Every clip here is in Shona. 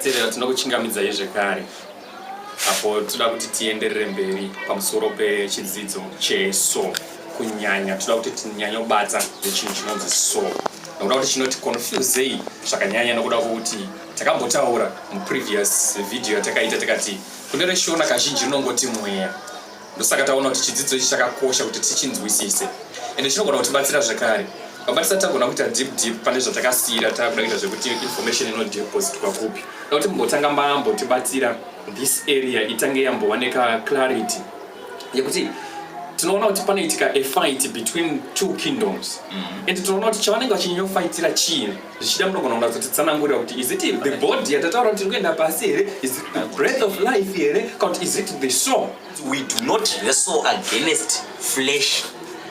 Terera tinokuchingamidzai zvekare apo toda kuti tienderere mberi pamusoro pechidzidzo cheso kunyanya toda kuti tinyanye kubata nechinhu chinonzi so nokuda kuti chinoti confusei zvakanyanya nokuda kwokuti takambotaura muprevious video yatakaita takati kune reshona kazhinji rinongoti mweya Ndosaka taona kuti chidzidzo ichi chakakosha kuti tichinzwisise ende chinogona kutibatsira zvekare vabatisa tagona kuita deep deep pane zvatakasiyira takuda kuita zvekuti information inodepositwa kupi da kuti mumbotanga mambo tibatsira this area itange yambova neclarity yekuti tinoona kuti panoitika afight between two kingdoms mm-hmm. and tinoona kuti chavanenge vachinyofaitira chii zvichida munogona kunatsotitsanangurira kuti is it the body yatataura kuti tiri kuenda pasi here is it the breath of life here kana kuti is it the soul we do not wrestle against flesh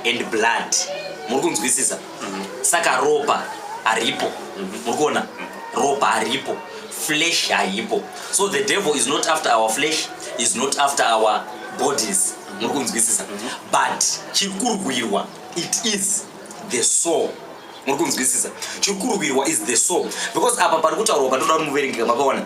and blood muri kunzwisisa mm-hmm. saka ropa haripo mm-hmm. muri kuona mm-hmm. ropa haripo flesh haipo so the devil is not after our flesh is not after our bodies muri kunzwisisa but chiri kurwirwa it is the soul muri kunzwisisa chiri kurwirwa is the soul because apa pari kutaurwa patoda kuti muverengeka makaona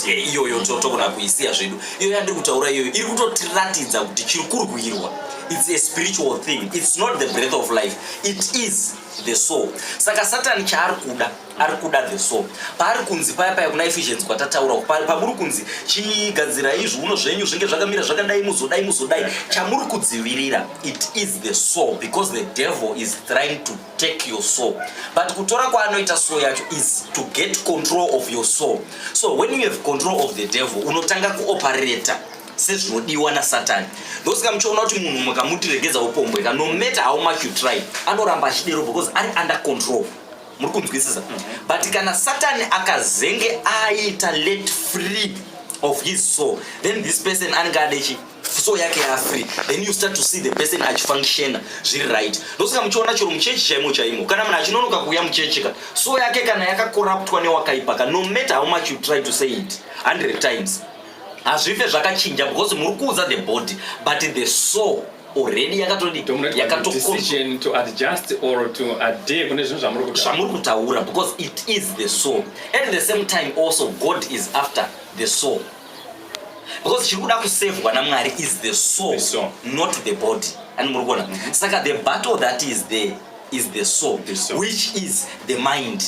iyoyo togona kuisiya zvedu iyoyo yandiri kutaura iyoyo iri kutotiratidza kuti chiri kurwirwa its a spiritual thing its not the breath of life it is the soul saka satani chaari kuda ari kuda the so paari kunzi paya paya kuna efficiency kwatataura pamuri kunzi chigadzira izvi uno zvenyu zvinge zvakamira zvakadai muzodai muzodai chamuri kudzivirira it is the soul because the devil is trying to take your soul but kutora kwaanoita soul yacho is to get control of your soul so when you have control of the devil unotanga kuoperata sezvinodiwa nasatani ndosika muchiona kuti munhu mukamutiregedza upombweka no matter how much you try anoramba achidero because ari under control muri kunzwisisa but kana satani akazenge aita let free of his soul then this person anenge adechi so yake yafree then you start to see the person achifunctiona zviri right ndosaka muchiona chero muchechi chaimo chaimo kana munhu achinonoka kuuya muchechika so yake kana yakakoraptwa newakaipaka no matter how much you try to say it 100 times hazvife zvakachinja because muri kuudza the body but the soul already yakatodi yakatocondition to adjust or to adhere kune zvinhu zvamuri kutaura zvamuri kutaura because it is the soul at the same time also god is after the soul because chiri kuda kusevhwa namwari is the soul, the soul not the body and muri kuona mm -hmm. saka the battle that is there is the soul, the soul which is the mind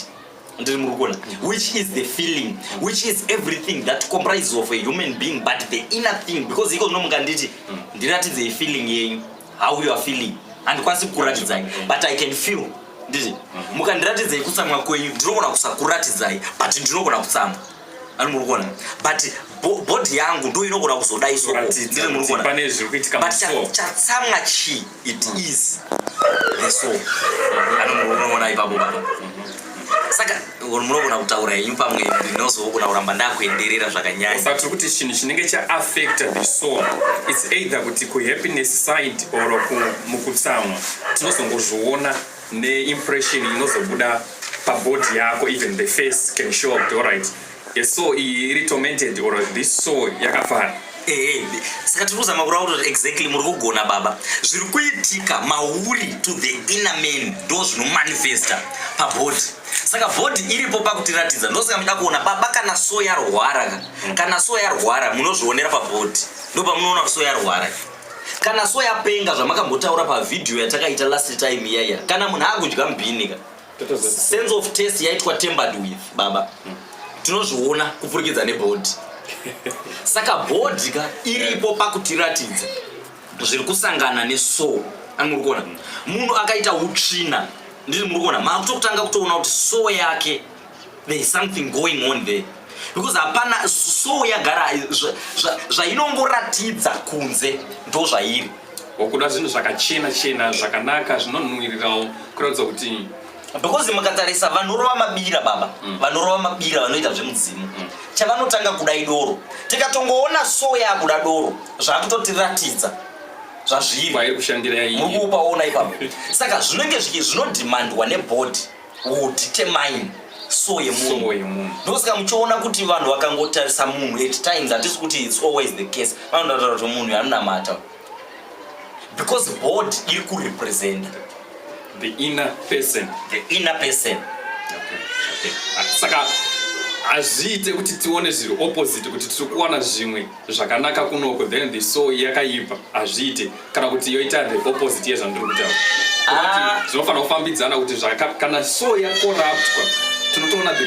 ndiri muri kuona which is the feeling which is everything that comprises of a human being but the inner thing because iko zvino mukanditi ndiratidzei feeling yenyu how you are feeling handikwanisi kukuratidzai but i can feel nditi mukandiratidzei kutsamwa kwenyu ndinogona kusakuratidzai but ndinogona kutsamwa ari muri kuona but bhodhi yangu ndo inogona kuzoda isoondiri muri kuona but chatsamwa chii it mm. is the so anomunoona ipapo baba saka munogona kutaura henyu pamwe ndinozogona kuramba ndakuenderera zvakanyanya but kuti chinhu chinenge chaaffecta the soul its either kuti kuhappiness side or mukutsamwa tinozongozviona ne impression inozobuda pabody yako even the face can show up alright a soul iyi iri tormented or this soul yakafara eh, saka tiri kuzama kurava kuti exactly muri kugona baba zviri kuitika mauri to the inner man ndo zvinomanifesta pabody saka body iripo pakutiratidza ndosaka muda kuona baba kana so yarwara kana so yarwara munozvionera pabody ndopamunoona kuti so yarwara kana so yapenga zvamakambotaura pavhidhiyo yatakaita last time iyaiya kana munhu akudya mubhinika sense of test yaitwa tembered with baba mm. tinozviona kupfurikidza nebhodhi saka bhodhi ka iripo pakutiratidza zviri kusangana neso ani muri kuona mm. munhu akaita utsvina ndiri muri kuona maakutokutanga kutoona kuti so yake there is something going on there because hapana so yagara zvainongoratidza zva, zva kunze ndo zvairi wakuda zvinhu zvakachena chena zvakanaka zvinonhuwirirawo kuratidza kuti because mukatarisa vanorova mabira baba mm. vanorova mabira vanoita zvemudzimu mm. chavanotanga kuda idoro tikatongoona so yakuda doro zvakutotiratidza zvazviri kushandira yaiyi mukuupaona ipapo saka zvinenge zvinodimandwa nebhodhi will determine so yemunhu ndosaka muchiona kuti vanhu vakangotarisa munhu at times hatisi kuti its always the case vanotaura kuti munhu yanonamata because board iri kurepresenta the inner person the inner person okay. Okay. saka hazviite kuti tione zviri opposite kuti tiri kuwana zvimwe zvakanaka kunoko then the so yakaipa hazviite kana kuti yoita the opposite yezvandiri kutaura ah. zvinofanira kufambidzana kuti kana so yakoraptwa tinotoona the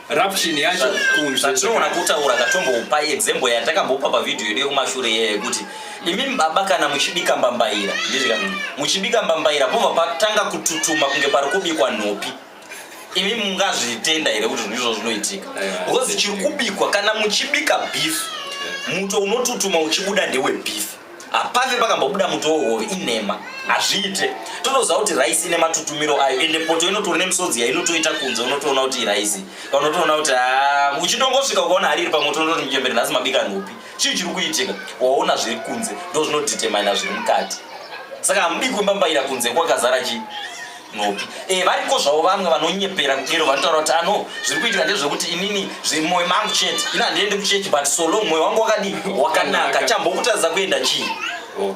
corruption yacho kunzvezvatinoona kutaura ndatombopa example yatakambopa pavhidhiyo yedu yekumashure iye yekuti imi baba kana muchibika mbambaira ndizvika muchibika mbambaira pobva patanga kututuma kunge pari kubikwa nhopi imi mungazvitenda here kuti ndizvo zvinoitika because chiri kubikwa kana muchibika beef muto unotutuma uchibuda ndewe beef hapave pakambobuda muto wohove inhema hazviite totoziva kuti raisi ine matutumiro ayo ende poto inotori nemisodzi yainotoita kunze unotoona kuti iraisi unotoona kuti ah, uchitongosvika ukaona hari iri pamoto unototi mchembere nhasi mabika nhupi chii chiri kuitika waona zviri kunze ndo zvinodetermina zviri mukati saka hamudi kumbambaira kunze kwakazara chii nopi e, variko zvavo vamwe vanonyepera kudero vanotaura kuti ano zviri kuitika ndezvekuti inini mwoyo mangu chete ino handiendi kuchechi but solo mwoyo wangu wakadii wakanaka chambokutadza kuenda chii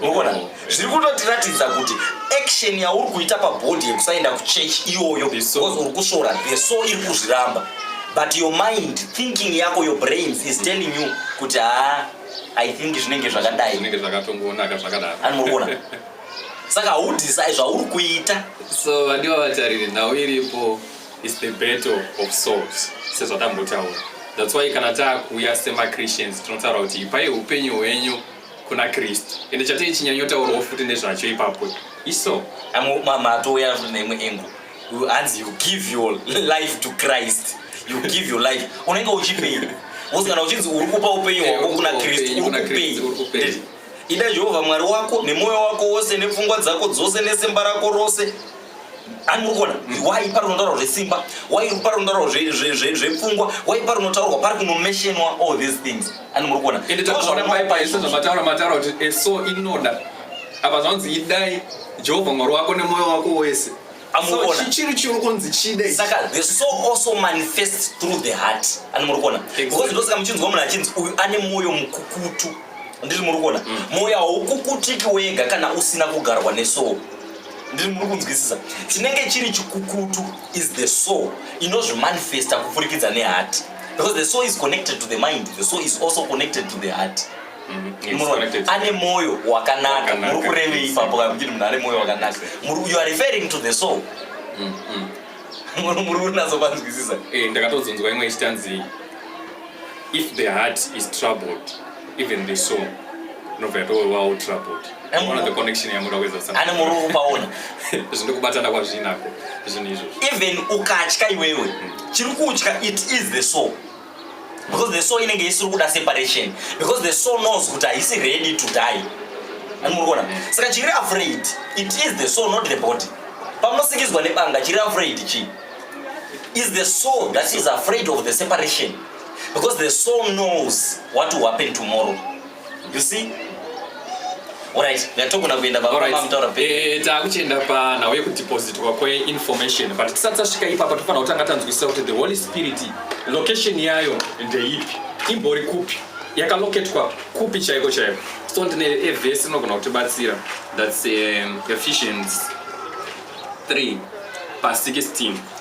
mokona zviri kutotiratidza kuti action yauri kuita pabhodhi yekusaenda kuchechi iyoyo because uri kusvora the so iri kuzviramba but your mind thinking yako your brains is telling you kuti haa i think zvinenge zvakadai zvinenge zvakatongonaka zvakadaro anmurikuona saka haudisai zvauri kuita so vandiva vatariri nhau iripo is the battle of salt sezvatambotaura thats why kana taakuuya semachristians tinotaura kuti ipai upenyu hwenyu kuna kristu ende chatei chinyanyotaurawo futi nezvacho ipapo iso matouya futi neimwe engo hanzi you give your life to christ you give your life unenge uchipei wozi kana uchinzi uri kupa upenyu hwako kuna kristu uri kupei Ida Jehovha Mwari wako nemwoyo wako wose nepfungwa dzako dzose nesimba rako rose. Ani muri kuona why pari kunotaurwa zvesimba why pari kunotaurwa zvepfungwa why pari kunotaurwa pari kunomeshenwa all these things ani muri kuona ende takaona maipaise zvamataura mataura kuti eso inoda apa zvanzi idai jehovha mwari wako nemwoyo wako wese amuona chiri chiri kunzi chide saka the soul also manifests through the heart ani muri kuona because ndosaka muchinzwa munhu achinzi uyu ane mwoyo mukukutu ndiri muri kuona mm. mwoyo haukukutiki wega kana usina kugarwa nesoul ndiri muri kunzwisisa chinenge chiri chikukutu is the soul inozvimanifesta kupfurikidza nehati because the soul is connected to the mind the soul is also connected to the heart mm-hmm. ane mwoyo wakanaka muri kurevei ipapo kana muchiti munhu ane mwoyo wakanaka you are referring to the soul mm-hmm. muri kunatso kwanzwisisa eh, ndakatozonzwa imwe ichitanzi if the heart is troubled even the soul unobva yatowawo troubled one of the connection yamuda kuedza kusana ane muri upaona zvino kubatana kwazvinako zvinhu izvozvo even ukatya iwewe chiri kutya it is the soul because the soul inenge isiri kuda separation because the soul knows kuti haisi ready to die animurikuona saka chiri afraid it is the soul not the body pamunosikidzwa nebanga chiri afraid chii is the soul that is afraid of the separation because the soul knows what will happen tomorrow You see? Alright, ndatogona kuenda baba mama mutaura pe. Eh, takuchienda pa nhau yekudepositwa kwe information but tisati tasvika ipapa tofanira kutanga tanzwisisa kuti the Holy Spirit location yayo ndeipi? Imbori kupi? Yakaloketwa kupi chaiko chaiko? So ndine a verse inogona kutibatsira that's um, Ephesians 3 pa 16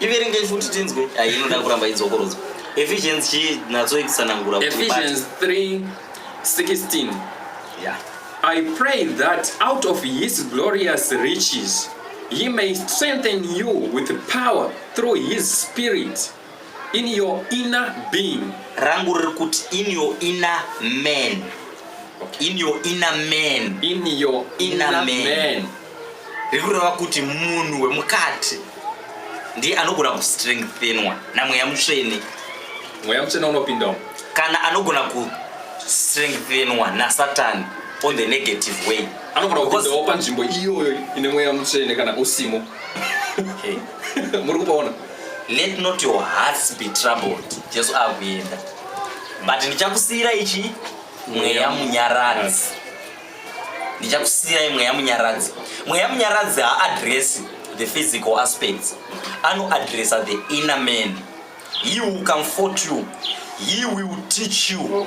iverengei futi tinzwe inoda kuramba idzokorodzwa ephesians chii natso ikutsanangura ephesians 3 16 yeah. i pray that out of his glorious riches he may strengthen you with power through his spirit In your inner being. Rangu riri kuti in your inner man. In your inner man. In your inner, inner man. man. Riri kureva kuti munhu wemukati ndiye anogona kustrengthenwa namweya mutsvene. Mweya mutsvene unopindawo. Kana anogona kustrengthenwa nasatani on the negative way. Anogona kupindawo panzvimbo iyoyo ine mweya mutsvene kana usimo. Muri kupaona? let not your hearts be troubled jesu akuenda but ndichakusiyira ichi mweya munyaradzi ndichakusiyira mweya munyaradzi mweya munyaradzi haaddress the physical aspects anoaddressa the inner man he will comfort you he will teach you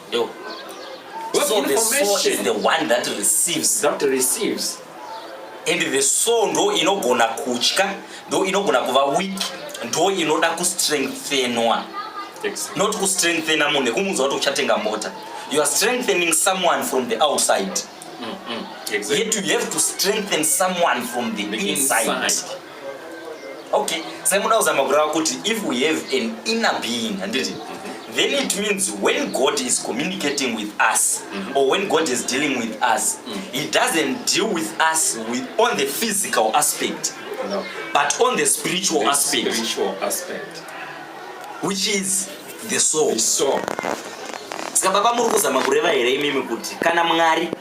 Yo. What so the soul is the one that receives. That receives. And the soul ndo inogona kutya, ndo inogona kuva weak, ndo inoda kustrengthenwa. Exactly. Not kustrengthena munhu nekumudza kuti uchatenga mota. You are strengthening someone from the outside. Mm -hmm. exactly. Yet you have to strengthen someone from the, the inside. inside. okay sai muda kuzama kurava kuti if we have an inner being handiti then it means when god is communicating with us mm -hmm. or when god is dealing with us mm -hmm. he doesn't deal with us with, on the physical aspect no. but on the spiritual the aspect, spiritual aspect which is the soul, the soul. saka baba muri kuzama kureva here imimi kuti kana mwari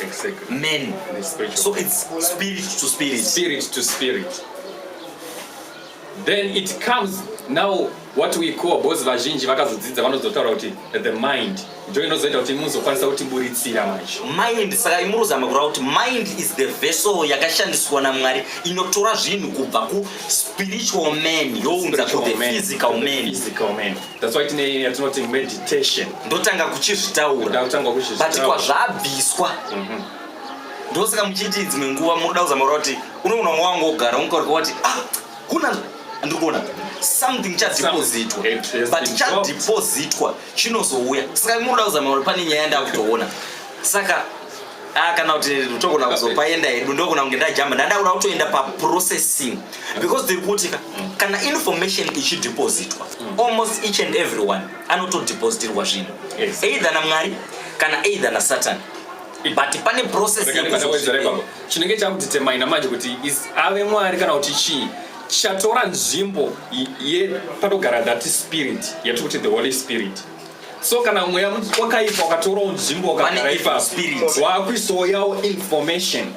Exactly. Men. The spiritual. So it's spirit to spirit. Spirit to spirit. Then it comes now what we call both vazhinji vakazodzidza vanozotaura kuti the mind ndo inozoita kuti muzokwanisa kutiburitsira manje mind saka imuruzama kureva kuti mind is the vessel yakashandiswa namwari inotora zvinhu kubva kuspiritual man younza kuthe physical man That's why tine yatinoti meditation. Ndotanga kuchizvitaura. But kwazvabviswa. Mm -hmm. Ndosaka muchiti dzimwe nguva munoda kuzama kuti unoona mwa wangu ogara unkaurika wati ah kuna ndiri kuona something chadhipozitwa but chadhipozitwa chinozouya saka munoda kuzama kuti pane nyaya ndakutoona saka Ah, kana kuti togona kuzopaenda hedu ndogona kunge ndajamba ndandakuda kutoenda paprocessing because tiri kuti kana information ichidepositwa mm. almost each and everyone anotodepositirwa zvinhu either namwari kana either nasatan but pane processchinenge chakutitemaina manje kuti ave mwari kana kuti chii chatora nzvimbo yepanogara that spirit yatiri kuti the holy spirit so kana mweya wakaipa wakatorawo nzvimbo wakagara ipapo waakuisawo yawo information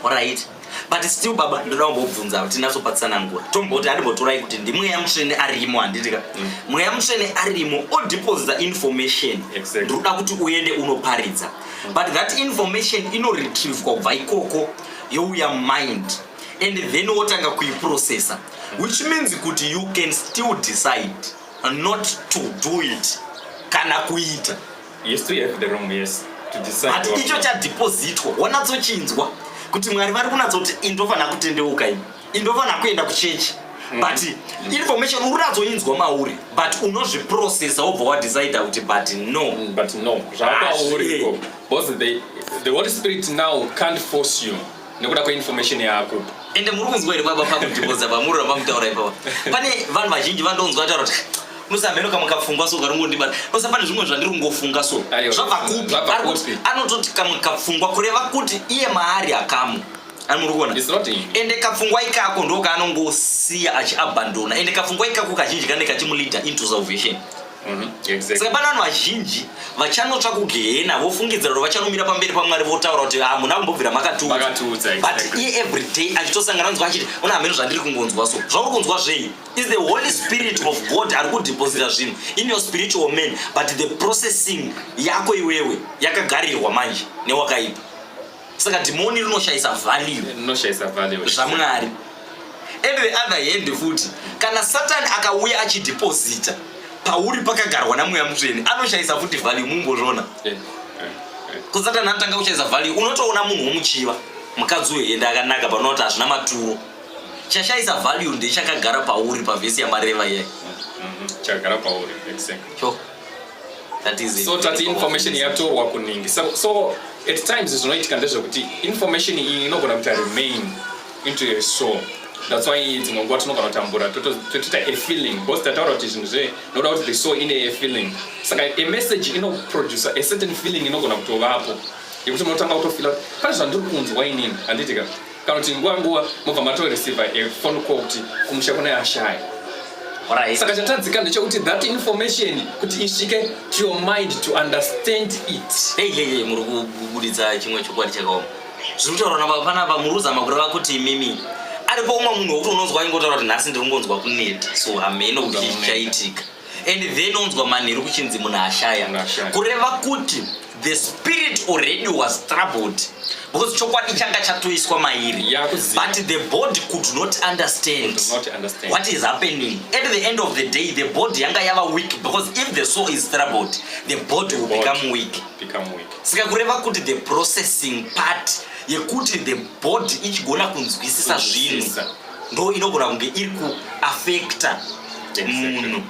right but still baba ndoda kumbobvunza kuti ndazopatsanangura tomboti andimbotorai kuti ndimweya mutsvene arimo handitika mm. mweya mutsvene arimo odeposita information ndinoda kuti uende unoparidza mm. but that information inoretrievwa kubva ikoko youya mind and then wotanga kuiprocessa mm. which means kuti you can still decide not to do it kana kuita yes to have the wrong yes to decide but icho chadhipozitwa wanatsochinzwa kuti mwari vari kunatsoti indofanira kutendeuka ini indofanira kuenda kuchechi mm. but mm. information uri ratsoinzwa mauri but unozviprocessa wobva wadecida kuti but no mm, but no zvakauri because the, the holy spirit now can't force you nekuda kweinformation yako ende muri kunzwa here baba pakudhibodza bamuri ramamutaura ipapa pane vanhu vazhinji vandonzwa ataura kuti nosamhenoka mukapfungwa so karungondibata nosa pane zvimwe zvandiri kungofunga so zvabva kupi ari kuti anototi kamwe kapfungwa kureva kuti iye maari akamu ani muri kuona ende kapfungwa ikako ndokaanongosiya achiabandona ende kapfungwa ikako kazhinji kanenge kachimulida into salvation Mhm, saka pana vanhu vazhinji vachanotsva kugehena vofungidzira kuti vachanumira pamberi pamwari votaura kuti hamuna ah, kumbobvira makatiudza but iye every day achitosangana nzwa achiti una hameno zvandiri kungonzwa so zvauri kunzwa zvei is the holy spirit of god ari kudeposita zvinhu in your spiritual man but the processing yako iwewe yakagarirwa manje newakaipa saka dhimoni rinoshayisa valuezvamwari and the other hand futi kana satani akauya achidhipozita pauri pakagarwa namweya mutsvene anoshayisa futi value mumbozvona eh, eh, eh. kusatani anotanga kushayisa value unotoona munhu womuchiva mukadzi wehende akanaka panoti hazvina maturo chashayisa value ndechakagara pauri pavhesi yamareva iyai mm-hmm. chakagara pauri exactly so tati information yatorwa kuningi so, so at times zvinoitika ndezvekuti information iyi inogona kuita remain into a soul that's why dzimwe nguva tinogona kutambura totoita a feeling because tataura kuti zvinhu zve noda kuti the soul ine a feeling saka a message inoproducer a certain feeling inogona kutovapo yekuti munotanga kutofila pane zvandiri kunzwa inini handiitika kana kuti nguva nguva mobva matoreceiva a phone call kuti kumusha kune ashaya Right. saka chatadzika ndechekuti that information kuti isvike to your mind to understand it Hey, hey, hey, muri kubuditsa chimwe chokwadi chakaoma zviri kutaurwa nababa panapa muri kuzama kureva kuti imimi aripo umwe munhu wekuti unonzwa aingotaura kuti nhasi ndiri kungonzwa kuneta so hameno kuti chii chichaitika and then onzwa manheru kuchinzi munhu ashaya Munhu ashaya. kureva kuti the spirit already was troubled because chokwadi changa chatoiswa mairi but the body could not understand, could not understand what is happening at the end of the day the body yanga yava weak because if the soul is troubled the body the will body become weak become weak saka kureva kuti the processing part yekuti the body ichigona kunzwisisa zvinhu ndo inogona kunge iri kuafecta munhu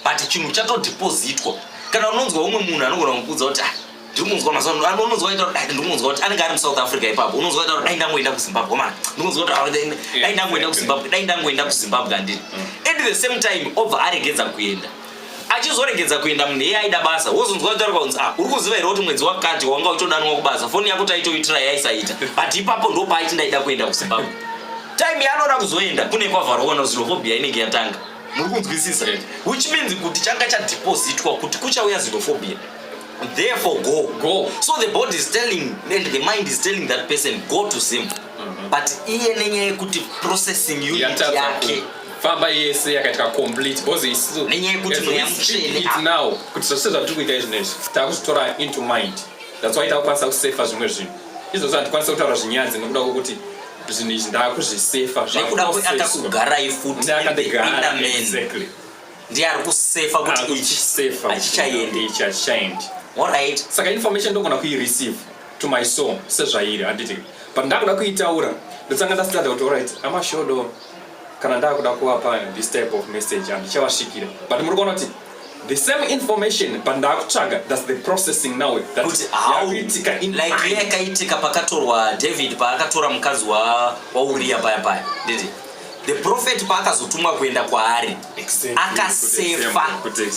but chinhu chatodhipozitwa kana unonzwa umwe munhu anogona kukuudza kuti ah, ndikunzwa mazuva ano unonzwa aita kuti ah, ndikunzwa kuti anenge ari musouth africa ipapo unonzwa aita kuti dai ndangoenda kuzimbabwe ma ndikunzwa kuti ah, dai ndangoenda kuzimbabwe dai ndangoenda kuzimbabwe andini mm. at the same time obva aregedza kuenda achizoregedza kuenda munhu iye aida basa wozonzwa kutaura kunzi ah, uri kuziva here kuti mwedzi wakati wanga uchidanwa kubasa foni yako taitoitira yaisaita but ipapo ndo paaiti ndaida kuenda kuzimbabwe time yaanoda kuzoenda kune kwavharokona zinophobia inenge yatanga muri kunzwisisa which means kuti changa chadepositwa kuti kuchauya xenophobia therefore go go so the body is telling and the mind is telling that person go to zim mhm. but iye nenyaya yekuti processing unit yake famba yese yakaita complete because isu nenyaya yekuti mweya mutsvene it now kuti zvose zvatiri kuita izvino izvi takuzvitora into mind that's why takukwanisa kusefa zvimwe zvinhu izvozvo hatikwanisa kutaura zvinyadzi nokuda kwokuti zvinhu izvi ndakuzvisefa nekuda kwekuti akakugarai futi exactly ndiye ari kusefa kuti ichi achichaendi ichi achichaendi alright saka information ndogona kuireceive to my soul sezvairi handiti but ndakuda kuitaura ndotanga ndasitadza kuti alright amashodo kana ndakuda kuvapa this type of message handichavasvikira but muri kuona kuti the same information but ndakutsvaga thats the processing now yakaitika pakatorwa david paakatora mukadzi wauriya paya paya nditi the prophet paakazotumwa kuenda kwaari akasefa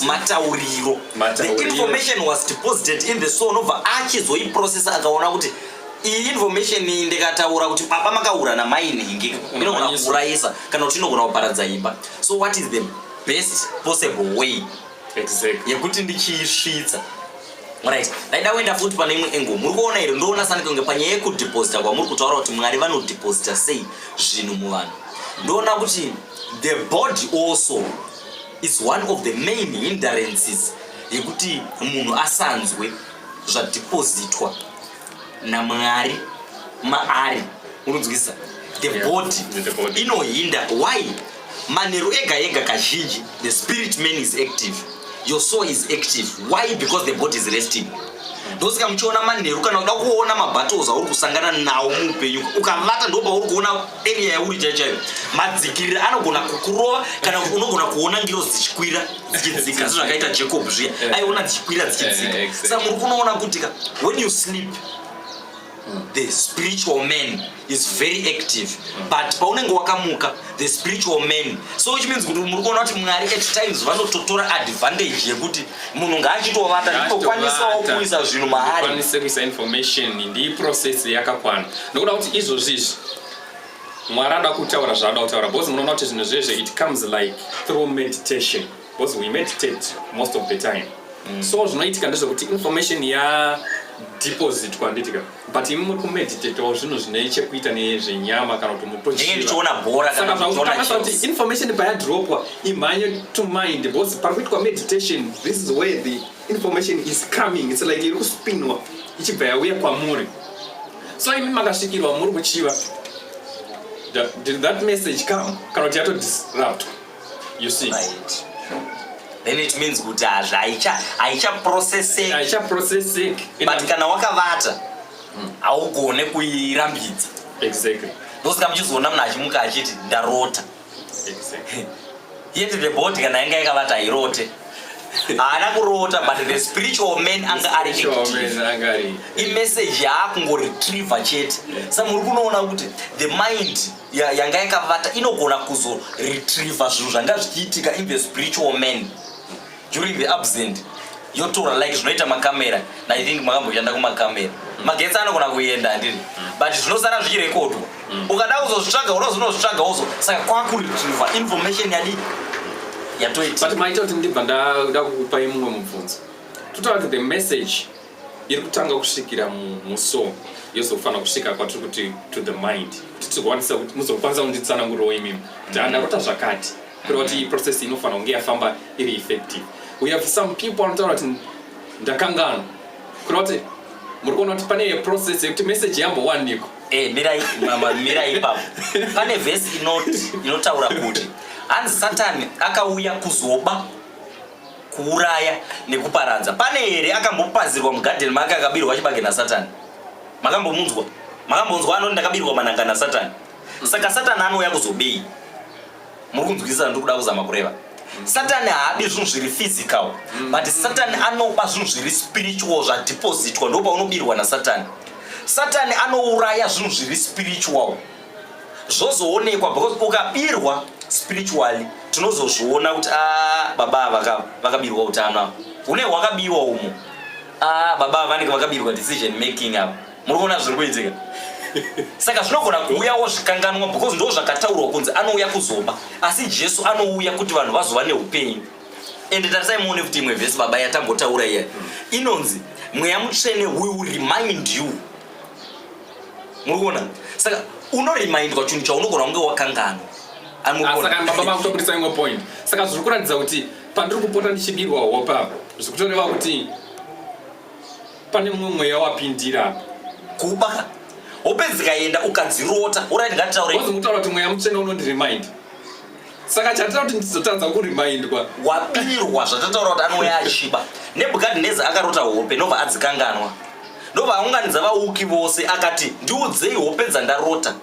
matauriro the information was deposited in the soul nobva achizoiprocessa akaona kuti iyi information iyi ndikataura kuti baba makaura namai nhingi inogona kuurayisa kana kuti inogona kuparadza imba so what is the best possible way yekuti ndichiisvitsa right ndaida kuenda futi pane imwe engo muri kuona here ndoona sani kunge panyaya yekudeposita kwamuri kutaura kuti mwari vanodeposita sei zvinhu muvanhu ndoona kuti the body also is one of the main hinderances yekuti munhu asanzwe zvadhipozitwa namwari maari unonzwisisa the yeah. body, the body. inohinda why manheru ega ega kazhinji the spirit man is active your soul is active why because the body is resting ndosaka muchiona manheru kana uda kuona mabattles auri kusangana nawo muupenyu ukavata ndopauri kuona area yauri chaichayo madzikirira anogona kukurova kana unogona kuona ngiro dzichikwira dzichidzika zvakaita jacob zviya eh. aiona dzichikwira dzichidzika eh, saka muri kunoona kuti ka when you sleep the spiritual man is very active mm. but paunenge wakamuka the spiritual man so which means kuti muri kuona kuti mwari at times vanototora advantage yekuti munhu ngaachitovata nditokwanisawo kuisa zvinhu maari kuisa information ndiyi process yakakwana nokuda kuti izvozvizvi Mwari anoda kutaura zvaanoda kutaura because munoona kuti zvinhu zvezve it comes like through meditation because we meditate most of the time mm. so zvinoitika ndezvekuti information ya deposit kwanditika but imi muri kumeditetawo zvinhu zvine chekuita nezvenyama kana kuti mutochiona bhora kana kuti information payadropwa imhanye to mind because pari kuitwa meditation this is where the information is coming it's like iri kuspinwa ichibva yauya kwamuri so imi makasvikirwa muri kuchiva did that message come kana kuti yatodisrupt you see right. then it means kuti hazvi haichaprocesseki haichaprocesseki but kana wakavata hmm. haugone kuirambidza exactly ndosaka muchizoona munhu achimuka achiti ndarota yet the body kana yanga yakavata hairote haana kurota but the spiritual man anga ari active imessage yaakungoretriever chete sa muri kunoona kuti the mind yanga yakavata inogona kuzoretriever zvinhu zvanga zvichiitika in the spiritual man during the absent yotora like zvinoita makamera na i think makamboshanda kumakamera mm. magetsi anogona kuenda handiri mm. but zvinosara zvichirekodwa mm. ukada kuzozvitsvaga unozonozvitsvaga uzo saka kwakuretriva information yadi yatoita but maita kuti ndibva ndada kukupai mumwe mubvunzo totaura kuti the message iri kutanga kusvikira muso yozofanira kusvika kwatiri kuti to the mind kuti tigokwanisa kuti muzokwanisa kunditsanangurirawo imimi kuti andarota zvakati kureva kuti process inofanira kunge yafamba iri effective we have some people anotaura kuti ndakanganwa kureva kuti muri kuona kuti pane process yekuti message yambowanikwa eh, mirai mirai ipapo pane vhesi inotaura kuti hanzi satani akauya kuzoba kuuraya nekuparadza pane here akambopazirwa mugadheni make akabirwa chibage nasatani makambomunzwa makambonzwa anoti ndakabirwa mananga nasatani saka satani anouya kuzobei muri kunzwisisa ndiri kuda kuzama kureva mm. satani haadi zvinhu zviri physical mm. but satani anoba zvinhu zviri spiritual zvadepositwa ndo paunobirwa nasatani satani anouraya zvinhu zviri spiritual zvozoonekwa because ukabirwa spiritually tinozozviona kuti a ah, baba ava vakabirwa utano ava une hwakabiwa umo a ah, baba ava vanenge vakabirwa decision making ava muri kuona zviri kuitika saka zvinogona kuuyawo zvikanganwa because ndo zvakataurwa kunzi anouya kuzomba asi jesu anouya kuti vanhu vazova neupenyu ende tarisai muone kuti imwe vhesi baba yatambotaura iya inonzi mweya mutsvene will remind you muri kuona saka unoremindwa chinhu chaunogona kunge wakanganwa saka baba vakutobudisa imwe point saka zviri kuratidza kuti pandiri kupota ndichibirwa hope apa zviri kutoreva kuti pane mumwe mweya wapindira apa kuba hope dzikaenda ukadzirota urit ngatitaurewazomutaura kuti mweya mutsvene unondiremind saka chatira kuti ndizotadza kurimindwa wabirwa zvatataura kuti anouya achiba nebukadneza akarota hope ndobva adzikanganwa ndobva aunganidza vauki vose akati ndiudzei hope dzandarota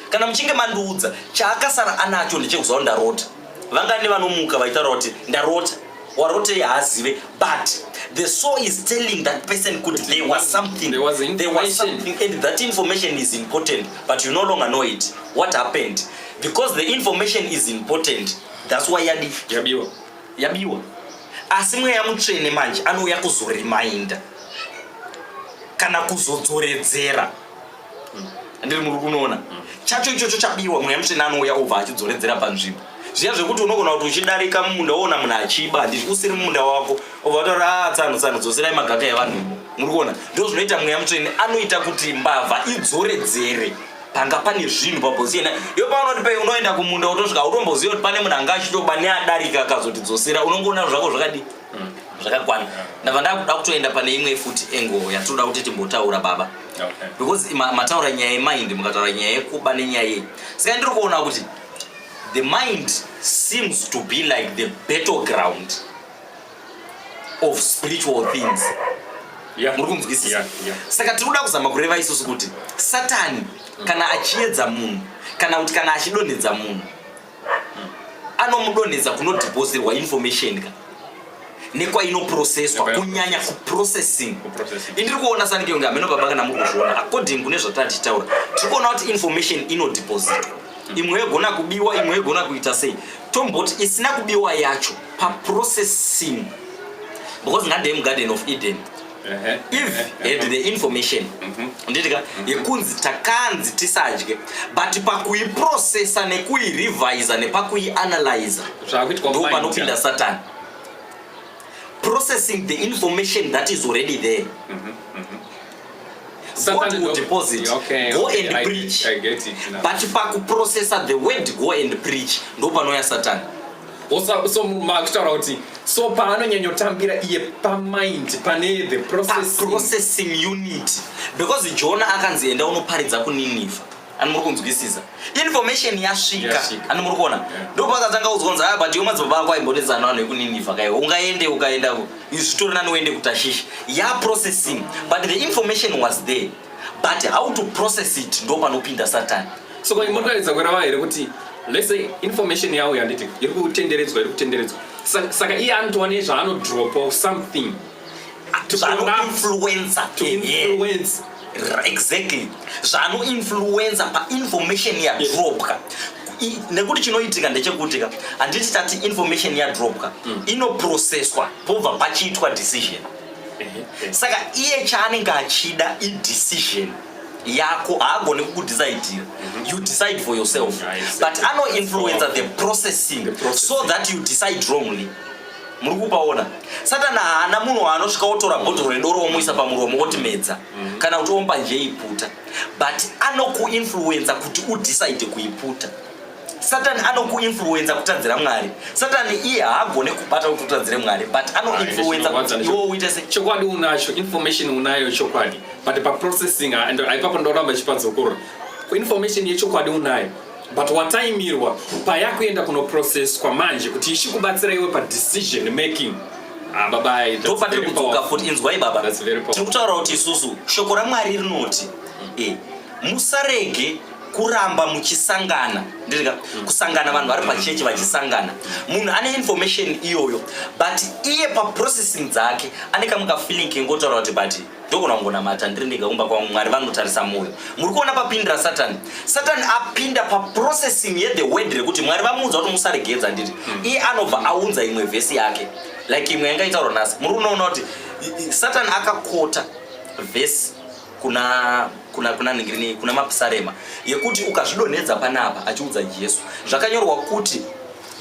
kana muchinge mandiudza chaakasara anacho ndechekuziva kuti ndarota vangani vanomuka vachitaura kuti ndarota warotei haazive but the soul is telling that person kuti there was something there was, there was something and that information is important but you no longer know it what happened because the information is important that's why yadi yabiwa yabiwa asi mweya mutsvene manje anouya kuzorimainda kana kuzodzoredzera handiri muri kunoona chacho ichocho chabiwa mweya mutsvene anouya obva achidzoredzera panzvimbo zviya zvekuti unogona kuti uchidarika mumunda woona munhu achiba handiti usiri mumunda wako obva wataura a ah, tsano tsano dzoserai magaka evanhu imo muri kuona ndo zvinoita mweya mutsvene anoita kuti mbavha idzoredzere panga pane zvinhu pabhosi yena iyo paunoti pe unoenda kumunda wotosvika utomboziva kuti pane munhu anga achitoba neadarika akazotidzosera unongoona zvako zvakadii zvakakwana ndava ndakuda kutoenda pane imwe futi engo yatinoda kuti timbotaura baba because mataura nyaya yemind mukataura nyaya yekuba nenyaya yei saka ndiri kuona kuti the mind seems to be like the battle ground of spiritual things muri kunzwisisa saka tiri kuda kuzama kureva isusu kuti satani kana achiedza munhu kana kuti kana achidonhedza munhu anomudonhedza kunodhipozirwa information ka nekwainoprocesswa kunyanya kuprocessing indiri kuona sanike kunge hameno baba kana muri kuzviona according kune zvatatichitaura tiri kuona kuti information inodhipozitwa imwe yogona kubiwa imwe yogona kuita sei tomboti isina kubiwa yacho paprocessing because ngandei mugarden of eden if had the information mhm. nditika mhm. yekunzi takanzi tisadye but pakuiprocessa nekuirevisa nepakuianalyza ndo panopinda satani processing the information that is already there mm -hmm. deposit okay, go okay, and I, preach I get it now. but pakuprocessa the word go and preach ndopanouya satani also so makutaura kuti so paanonyanyotambira iye pamind pane the processing ah, unit because jona akanzi enda unoparidza kuniniva ani muri kunzwisisa information yasvika ani muri kuona ndo pakatanga kuzonzi aya ah, but yomadzibaba ako aimbonetsana vanhu vekuniniva kaiwe ungaende ukaenda zvitori nani uende kutashishi ya processing but the information was there but how to process it ndo panopinda satani So ko muri kuratidza kurava here kuti let's say information yawo yanditi iri kutenderedzwa iri kutenderedzwa Sa- saka iye anotova nezvaanodropa or something to corrupt, zvanoinfluenza to influence exactly zvanoinfluenza painformation yadropka I- nekuti chinoitika ndechekuti ka handiti tati information yadropka inoprocesswa pobva pachiitwa decision Ehe. saka iye chaanenge achida idecision yako haagone kukudecider mhm. you decide for yourself but anoinfluenza the processing so that you decide wrongly muri kupaona satani haana munhu waanosvika otora bhodhoro redoro omuisa pamuromo oti medza mhm. kana kuti omba nje iputa but anokuinfluenza kuti udecide kuiputa satani anokuinfluenza kutadzira mwari satani iye haagone kubata kuti utadzire mwari but anoinfluenza ah, kuti iwo uite se chokwadi unacho information unayo chokwadi but paprocessing ah, aipapo ndoramba chipadzokorora information yechokwadi unayo but wataimirwa payakuenda kunoprocesswa manje kuti ichikubatsira iwe padecision making ah, babai ndopatiri kudzoka futi inzwai baba tiri kutaura kuti isusu shoko ramwari rinoti eh, musarege kuramba muchisangana ndirika kusangana vanhu vari pachechi vachisangana munhu ane information iyoyo but iye paprocessing dzake ane kamwe kafeeling kengotaura kuti but ndogona kungonamata ndiri ndega kumba kwangu mwari vanotarisa mwoyo muri kuona papindira satani satani apinda paprocessing yethe word rekuti mwari vamuudza kuti musaregedza ndiri hmm. iye anobva aunza imwe vhesi yake like imwe yanga itaurwa nhasi muri unoona kuti satani akakota vhesi kuna kuna kuna ningirine kuna mapsarema yekuti ukazvidonhedza panapa achiudza jesu zvakanyorwa kuti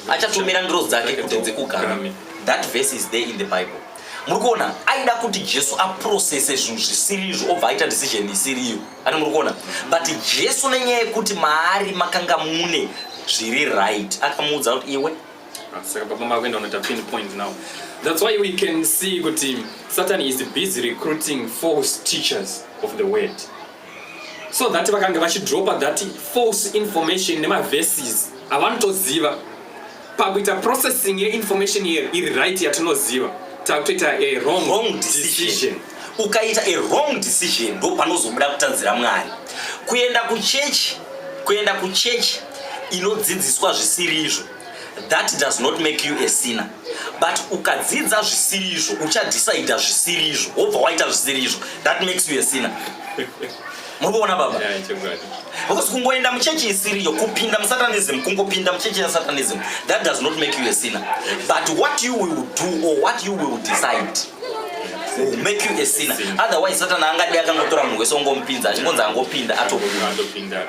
achatumira ndiro dzake kuti dzikugara that verse is there in the bible muri kuona aida kuti jesu aprocese zvinhu zvisirizvo obva aita decision isiriyo ani muri kuona but jesu nenyaya yekuti maari makanga mune zviri right akamuudza kuti iwe Ah, saka baba makuenda unoita pin point now that's why we can see kuti satan is busy recruiting false teachers of the word so that vakanga vachidropa that false information nemaverses avanotoziva pakuita processing yeinformation here iri right yatinoziva takutoita a wrong, wrong decision, decision. ukaita a wrong decision ndo panozobuda kutanzira mwari kuenda kuchechi kuenda kuchechi inodzidziswa zvisiri izvo that does not make you a sinner but ukadzidza zvisiri izvo uchadecida zvisiri izvo wobva waita zvisiri izvo that makes you a sinner muri kuona baba because kungoenda muchechi isiriyo kupinda musatanism kungopinda muchechi yasatanism that does not make you a sinner but what you will do or what you will decide will make you a sinner otherwise satana angadei akangotora munhu wese ongomupinza achingonzi angopinda atopinda